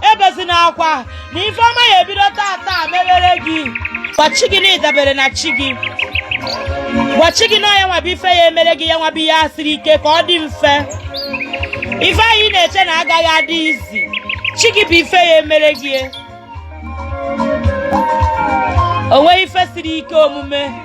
ebezina akwa na ife ọma ya ebido taa taa mebere gị gwa chi gị na ị dabere na chi gị gwa chi gị na ọ ya nwa bụ ife ya emere gị ya nwa bụ ihe a siri ike ka ọ dị mfe ife ahụ ị na-eche na agaghị adị easy chi gị bụ ife ya emere gị o nweghị ife siri ike omume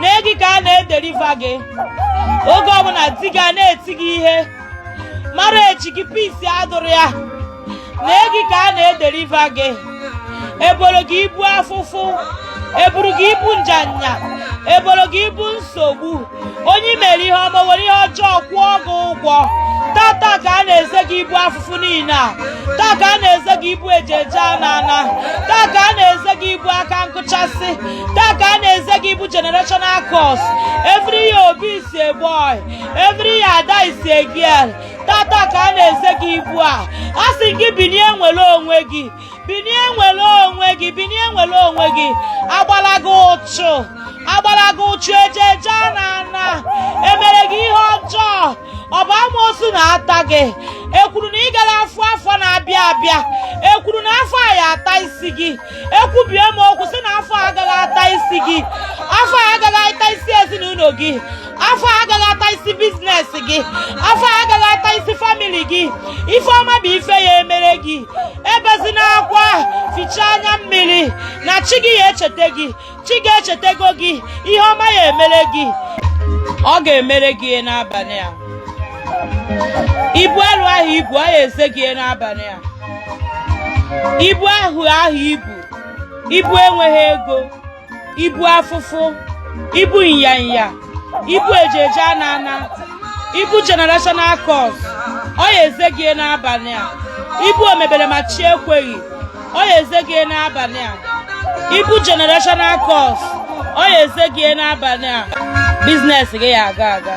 na gị ka a na-edeliver gị oge ọbụla di gị a na-eti gị ihe mara echi gị pisi adụrụ ya na gị ka a na-edeliver gị eboro gị ibu afụfụ eburu gị ibu njuanya eboro gị ibu nsogbu onye mere ihe ọma were ihe ọjọọ kwụọ gị ụgwọ tata ka a na-eze gị ibu afụfụ niile a taa ka a na-eze gị ibu eje eje ana ana taa ka a na-eze gị ibu aka nkụchasị taa ka a na-eze gị ibu generational curse every year obi is a boy every year ada is a girl tata ka a na-eze gị ibu a a sị gị binie nwere onwe gị binie nwere onwe gị binie nwere onwe gị agbala gị ụchụ agbala gị ụchụ eje eje ana ana emere gị ihe ọjọọ ọ bụ amoosu na-ata gị ekwuru na ị gara afụ afọ na-abịa abịa ekwuru na afọ a ya ata isi gị ekwubie m okwu sị na afọ agaghị ata isi gị afọ agaghị ata isi ezinụlọ gị afọ agaghị ata isi business gị afọ agaghị ata isi family gị ife ọma bụ ife ya emere gị ebezina akwa fichaa anya mmiri na chi gị ya echeta gị chi gị echetego gị ihe ọma ya emere gị ọ ga-emere gị ya n'abalị a ibu arụ ahụ i bu ọ ya eze gị ya n'abalị a ibu ahụ ahụ i bu ibu enweghị ego ibu afụfụ ibu ịnyanya ibu eje eje ana ana ibu generational curse ọ ya eze gị n'abalị a ibu omebere ma chi ekweghị ọ ya eze gị n'abalị a ibu generational curse ọ ya eze gị n'abalị a business gị ya aga aga